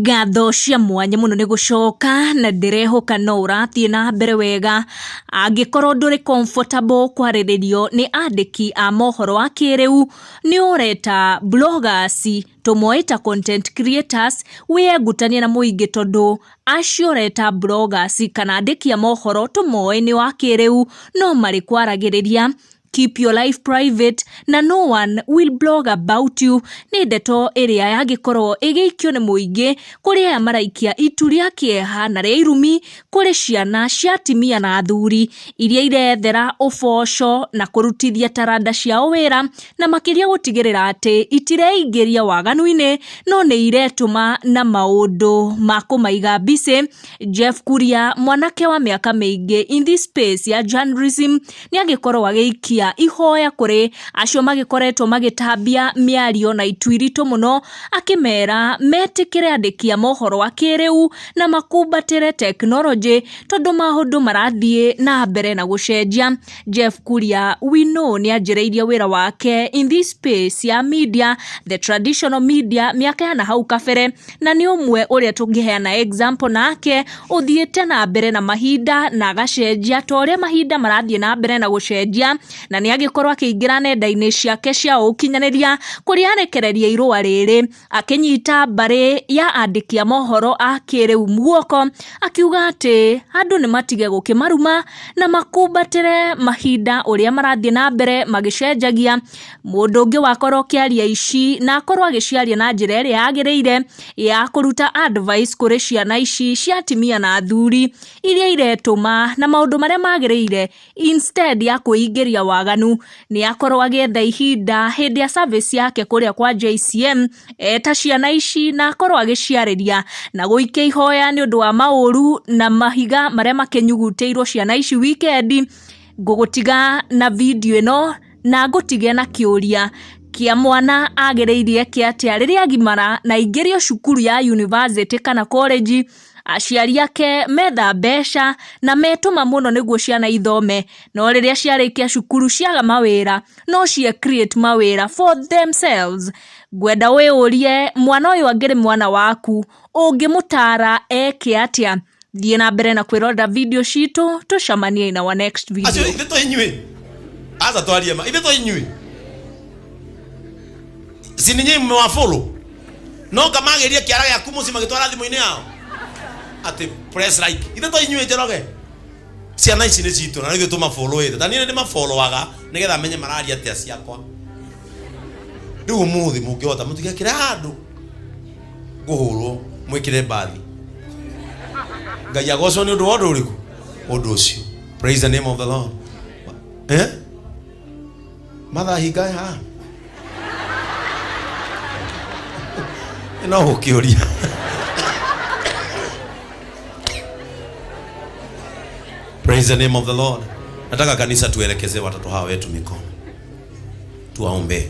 Ngatho cia mwanya mũno nĩ gũcoka, na ndĩrehoka no ũrathiĩ na mbere wega. Angĩkorwo ndũrĩ comfortable kwarĩrĩrio nĩ andĩki a mohoro a kĩrĩu, nĩ ũre ta bloggers, tũmoe ta content creators, wĩyengutanie na mũingĩ tondũ acio ũre ta bloggers kana andĩki a mohoro tũmoe nĩ a kĩrĩu, no marĩkwaragĩrĩria. keep your life private na no one will blog about you nĩ ndeto ĩrĩa yangĩkorwo ĩgĩikio nĩ mũingĩ kũrĩ aya maraikia itu rĩa kĩeha na rĩa irumi kũrĩ ciana cia atimia na athuri iria irethera ũboco na kũrutithia taranda ciao wĩra na makĩria gũtigĩrĩra atĩ itireingĩria waganu-inĩ no nĩ iretũma na maũndũ ma kũmaiga mbicĩ Jeff Kuria mwanake wa mĩaka mĩingĩ in this space ya journalism nĩ agĩkorwo agĩikia ihoya kũrĩ acio magĩkoretwo magĩtambia mĩario na itu iritũ mũno akĩmera metĩkĩre andĩki a mohoro a kĩrĩu na makumbatĩre tekinoronjĩ tondũ maũndũ marathiĩ na mbere na gũcenjia Jeff Kuria we know nĩ anjĩrĩirie wĩra wake in this space ya media the traditional media mĩaka ya na hau kabere na nĩ ũmwe ũrĩa tũngĩheana example nake, ũthiĩte na mbere na mahinda na agacenjia ta ũrĩa mahinda marathiĩ na mbere na gũcenjia, na nĩ agĩkorwo akĩingĩra nenda-inĩ ciake cia ũkinyanĩria, kũrĩa arekereria irũa rĩrĩ, akĩnyita mbarĩ ya andĩki a mohoro a kĩrĩu guoko, akiuga atĩ andũ nĩ matige gũkĩmaruma, na makumbatĩre mahinda ũrĩa marathiĩ na mbere magĩcenjagia. mũndũ ũngĩ wakorwo ũkĩaria ici na akorwo agĩciaria na njĩra ĩrĩa yagĩrĩire ya kũruta advice kũrĩ ciana ici cia atimia na athuri iria iretũma na maũndũ marĩa magĩrĩire instead ya kwĩingĩria waganu nĩ akorwo agĩetha ihinda hĩndĩ ya service yake kũrĩa kwa JCM eta ciana ici na akorwo agĩciarĩria na gũikia ihoya nĩ ũndũ wa maũru na mahiga marĩa makĩnyugutĩirwo ciana ici wikendi ngũgũtiga na video ĩno. na ngũtige na kĩũria kĩa mwana agĩrĩire eke atĩa rĩrĩa agimara na aingĩrio cukuru ya yunibacĩtĩ kana korĩnji, aciari ake metha mbeca na metũma mũno nĩguo ciana ithome, no rĩrĩa ciarĩkia cukuru ciaga mawĩra no ciĩ create mawĩra for themselves. Ngwenda wĩyũrie mwana ũyũ angĩrĩ mwana waku ũngĩmũtaara eke atĩa thiĩ na mbere na kwĩrorera video citũ tũcamanie na wa next video acio ithe to inyuĩ aza twarie ma ithe to inyuĩ si ninyi mmewafulu no kamageria kiara gĩaku mũciĩ magĩtwara thimũ-inĩ yao atĩ press like ithe to inyuĩ njoroge ciana ici nĩ citũ na nĩgĩ tũmabũlũĩte ta niĩ nĩ mabũlũaga nĩgetha menye mararia atĩa ciakwa rĩu ũmũthĩ mũngĩhota mũtigekĩre handũ ngũhũrwo mwĩkĩre mbathi ngai agocwo nĩ ũndũ wa ũndũ ũrĩkũ ũndũ ũcio praise the name of the lord eh? mathaa hingae ha no gũkĩũria praise the name of the lord nataka kanisa tuelekeze watoto hawa wetu mikono tuwaombee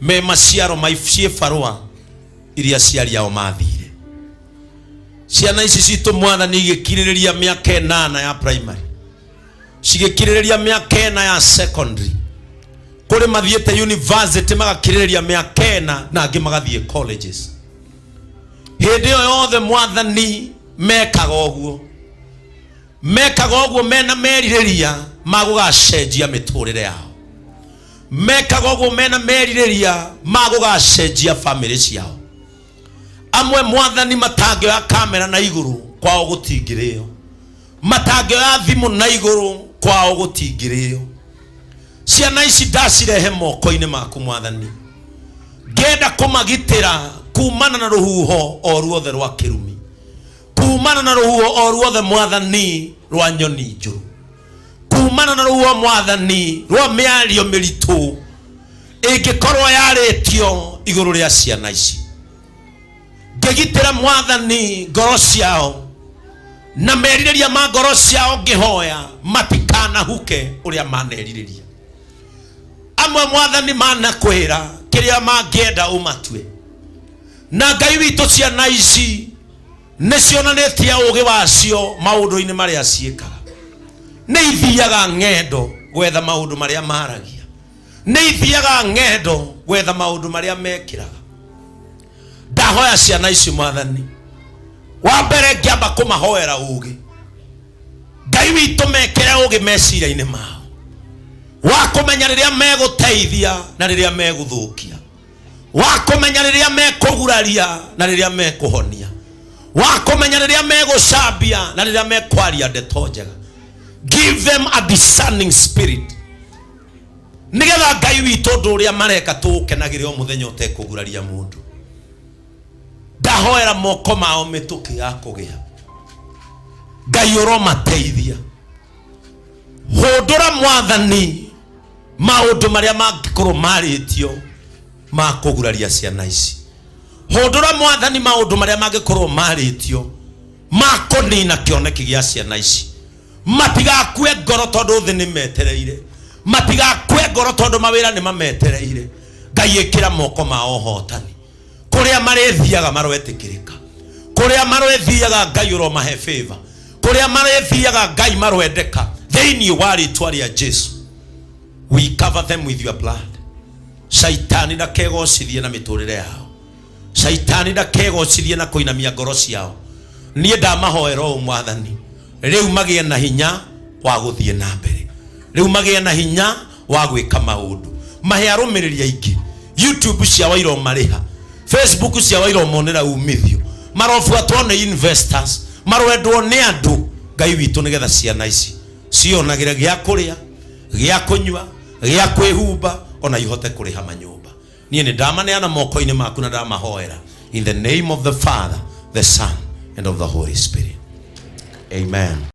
me maciaro ma ciĩbarũa iria aciari ao mathire ciana ici citũ mwathani igĩkirĩrĩria mĩaka ĩnana ya primary cigĩkirĩrĩria mĩaka ĩna ya secondary kũrĩ mathiĩte university magakirĩrĩria mĩaka ĩna na angĩ magathiĩ colleges hĩndĩ ĩyo yothe mwathani mekaga ũguo mekaga ũguo mena merirĩria ma gũgacenjia mĩtũrĩre yao mekaga ũguo mena merirĩria ma gũgacenjia bamĩrĩ ciao amwe mwathani matangĩoya kamera na igũrũ kwao gũtingĩrĩyo matangĩoya thimũ na igũrũ kwao gũtingĩrĩyo ciana ici ndacirehe moko-inĩ maku mwathani ngenda kũmagitĩra kumana na rũhuho o ruothe rwa kĩrumi kumana na rũhuho o ruothe mwathani rwa nyoni njũru kumana na ruo mwathani rwa mĩario mĩritũ ĩngĩkorwo yarĩtio igũrũ rĩa ciana ici ngĩgitĩra mwathani ngoro ciao na merirĩria ma ngoro ciao ngĩhoya matikanahuke ũrĩa manerirĩria amwe mwathani manakwĩra kĩrĩa mangĩenda ũmatue na ngai witũ ciana ici nĩ cionanĩtie ũũgĩ wacio maũndũ-inĩ marĩa ciĩkaga nĩ ithiaga ng'endo gwetha maũndũ marĩa maragia nĩ ithiaga ng'endo gwetha maũndũ marĩa mekĩraga ndahoya ciana ici mwathani wa mbere ngĩamba kũmahoera ũũgĩ ngai witũ mekĩre ũũgĩ meciria-inĩ mao wa kũmenya rĩrĩa megũteithia na rĩrĩa megũthũkia wa kũmenya rĩrĩa mekũguraria na rĩrĩa mekũhonia wa kũmenya rĩrĩa megũcambia na rĩrĩa mekwaria ndeto njega give them a discerning spirit nĩgetha ngai witũ ũndũ ũrĩa mareka tũũkenagĩre o mũthenya ũtekũguraria mũndũ ndahoera moko mao mĩtũkĩ ya kũgĩa ngai ũromateithia hũndũra mwathani maũndũ marĩa mangĩkorwo marĩtio ma kũguraria ciana ici hũndũra mwathani maũndũ marĩa mangĩkorwo marĩtio ma kũnina kĩoneki gĩa ciana ici matigakue ngoro tondũ thĩ nĩ metereire matigakue ngoro tondũ mawĩra nĩ mametereire ngai ĩkĩra moko mao hotani kũrĩa marĩthiaga marwetĩkĩrĩka kũrĩa marwethiaga ngai ũromahe favor kũrĩa marĩthiaga ngai marwendeka thĩinĩ wa rĩtwa rĩa jesu we cover them with your blood shaitani ndakegocithie na mĩtũrĩre yao shaitani ndakegocithie na kũinamia ngoro ciao niĩ ndamahoera ũũ mwathani rĩu magĩe na hinya wa gũthiĩ na mbere rĩu magĩe na hinya wa gwĩka maũndũ mahe arũmĩrĩri aingĩ youtube ciao iromarĩha facebook ciao iromonera umithio marobuatwo nĩ investors marwendwo nĩ andũ ngai witũ nĩgetha ciana ici cionagĩre gĩa kũrĩa gĩa kũnyua gĩa kwĩhumba ona ihote kũrĩha manyũmba niĩ nĩ ndamaneana moko-inĩ maku na ndamahoera in the name of the father the son and of the holy spirit amen